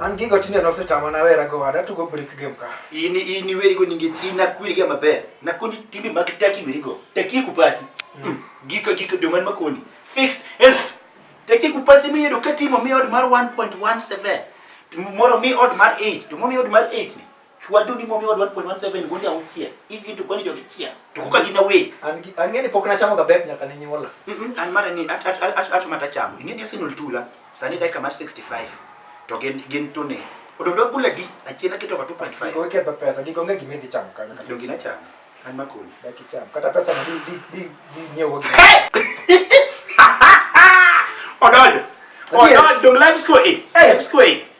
An gigo tinde nosetama nawera go wada tugo brick game ka. In in iweri go ninge ina kwiri ga maber. Na kundi timbi mag taki weri go. Taki kupasi. Mm. Hmm. Giko giko do man makoni. Fixed. El. Taki kupasi mi yedo katimo mi od mar 1.17. Moro mi od mar 8. To mi od mar 8 ni. Chwado ni momi wadwan point one seven gundi aukia. Hizi ndio kwani jogi kia. Tukuka gina we. Angeni pok na chamo gabet nyaka ni nyola. Mhm. An mara ni at at at at mata chamo. Ingeni Arsenal tula. Sani dakika mar 65. To gen gen tune. Odondo kula di achiena keto kwa 2.5. Kwa keta pesa gigo ngeki midhi chamo kana. Dongi na chamo. An makoni. Daki chamo. Kata pesa na di di di di nyewo. Odondo. Odondo live score. Eh, live score.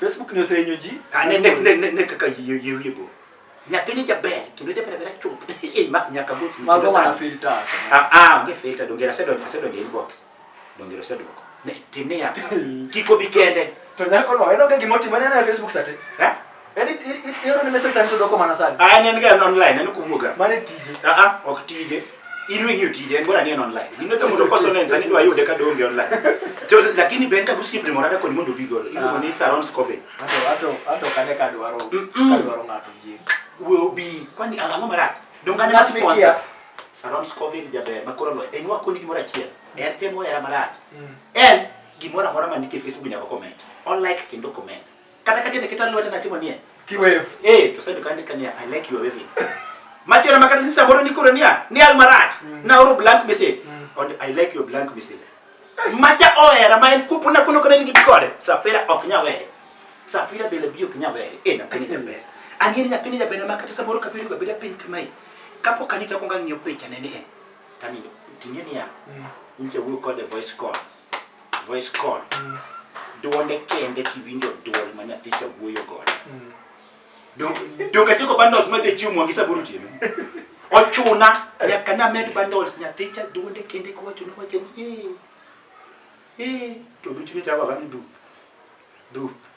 Facebook ni osenyo ji. Ane ne ne ne ne kaka yie yie yie bo. Nyathini jaber kendo jaber ber chuth. Eh ma nyaka go. Mago mana filter. Ah ah onge filter dongera se donge se donge inbox. Dongera se doko. Ne timia. Kiko bikende. To nyako no eno kagi moti mana na Facebook sate. Ha? Yaani hiyo ni message sasa ndio kwa maana sana. Ah, ni ndio online, ni kumuga. Maana tije. Ah ah, ok tije. in wing'eyo tije en bora ni en online in to mondo koso ne sani dwa yude ka donge online to lakini ben ka gusiep ni morada koni mondo bigo iluongo ni saron scove ato ato ato kane ka dwaro ka dwaro ngato ji will be kwani ang'o mara dongane mas sponsor saron scove ni jaber makoro lo en wa koni gimora chiel er temo era mara mm. en gimora mora manike facebook nyaka comment on like kendo comment Kata ka jene kita lwete na timo nie. Ki wave. Eh, to sendo kande kania I like your waving. Macho na makata nisa moro nikoro nia, ni al maraj. Mm. Na oro blank message. Mm. And I like your blank message. Macha oera ma en kupu na kuno kone nigi kode. Safira ok nya wehe. Safira bele bio kinya wehe. Eh, na pini jambe. Angini na pini jambe na makata samoro kapiru ka bida pini kamai. Kapo kanita konga ngiyo picha nene eh. Tani, tinye niya. Mm. Nche wuyo kode voice call. voice call mm. duonde kende kiwinjo duol ma nyathi cha wuoyo godo mm. donge tieko bundles ma dhi chiwo mwangi saburu tieme ochuna nyaka na med bundles nyathi cha duonde kende kiwacho ni wacho ni ee ee to duchine chako kani dup dup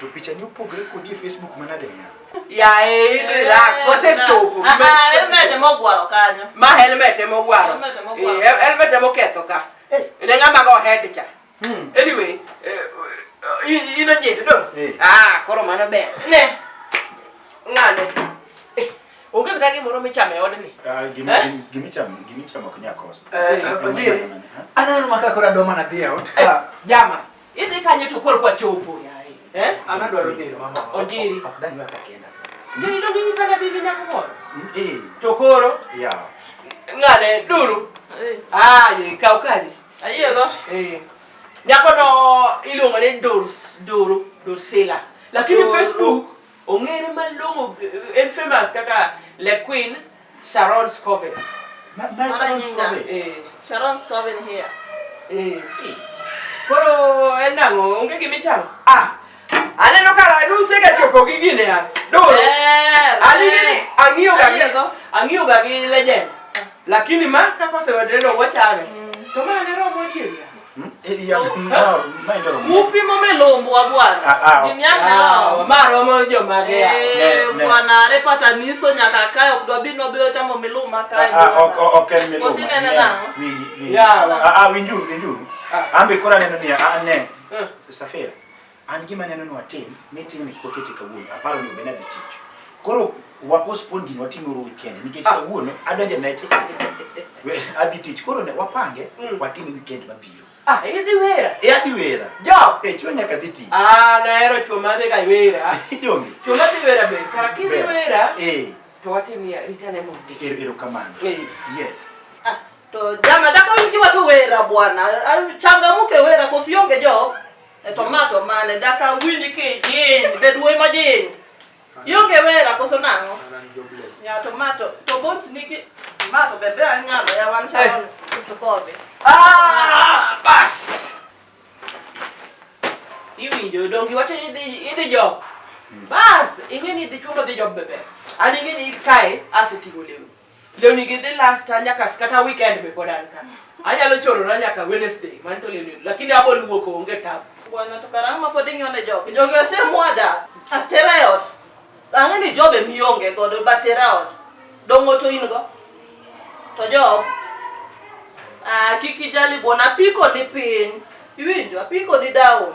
To picha ni opogre kodi e Facebook manade niya? Yae, it relax. Wasechopo. Ah, ah, helmet ema ogwaro kanyo. Ma helmet ema ogwaro. Helmet ema ogwaro. Eh, helmet ema oketho ka. Eh. Ne ng'ama go head cha. Hmm. Anyway, eh, ino jende do. Eh. Ah, koro mano ber. Ne. Ng'ane. Eh, onge kata gimoro michamo e odni. Ah, gimichamo, gimichamo ok nyakosa. Eh, Ojiri. Aneno maka kora doma na dhi out. Jama. Idhi kanye to koro kwa chopo yaye. Eh? Ana dwaro dhi mama. Onjiri. Ok danywa kakenda. Ngiri dongi nyisa na bibi nyako moro. Mm, eh. To koro? Yeah. Ngane duru. Eh. Ah, ye kaw kari. Ayo go. Eh. Nyako no iluongo ni Durs, Duru, Dursila. Lakini Facebook Ong'ere malong'o en famous kaka Le Queen Sharon Scoville. Ma- ma Sharon Manyinga. Scoville. Eh. Sharon Scoven here. Eh. Koro en nang'o onge gima ichamo? Ah. Aneno ka nusega chopo gi gine ya. Doro. Eh, Anigi ni eh. ang'iyo ga gi Ayiego. ang'iyo ga gi legend. Lakini ma kaka osewedre no wachame. To ma ne romo adier ya. Upimo melombwa bwana. Ah, ah, oh. Gimianao. Ah, Maro mo jo magea. Eh, bwana are pata niso nyaka kae ok dwabi no biro chamo miluma kae. Ah, ok ok en miluma. Osinene nango. Yawa. Ah, winjuru, winjuru. Ambe kora neno ni a ne. Eh. Safira. An gima neno ni watim, meeting ni kiko kete kawuono, aparo ni obena dhi tich. Koro wa postpone gini watime uru weekend nikech ah. kawuono adonje night shift. We adhi tich. Koro ne wapange mm. watime weekend mabiro. Ah, idhi wera. E adhi wera. Jo. E chwo nyaka dhi tich. Ah, nahero chwo ma dhi ga wera. Idonge. Chwo ma dhi wera ber. Kara kidhi wera. Eh. To watimia ritane mondi. Ero ero kamano. Eh. Yes. Ah, to jama daka wiki watu wera bwana. Ah, changamuke wera kosionge jo. E to ma to mane daka winji kijiny, bed wuoyi majiny. Ionge wera koso nang'o? And I'm jobless. Ng'ato ma to to bot nigi ma to bebe anyalo ya wan charon usukobe. Ah, bas. Iwinjo dongi wacho ni idhi idhi job. Bas, ing'e ni idhi chungo dhi job bebe. An ing'e ni kae aseting'o lewni. Lewni gi dhi last nyaka kata weekend be pod an ka. Anyalo chorora nyaka Wednesday, man to lewni, lakini abo luwo ko onge tabu. Bwana to karama pod inyone jogi. Jogi osemwada. Atera e ot. Ang'e ni jobe mionge godo batera e ot. Dongo to in go. To job. Ah, kiki jali bwana piko ni piny. Iwinjo, apiko ni down.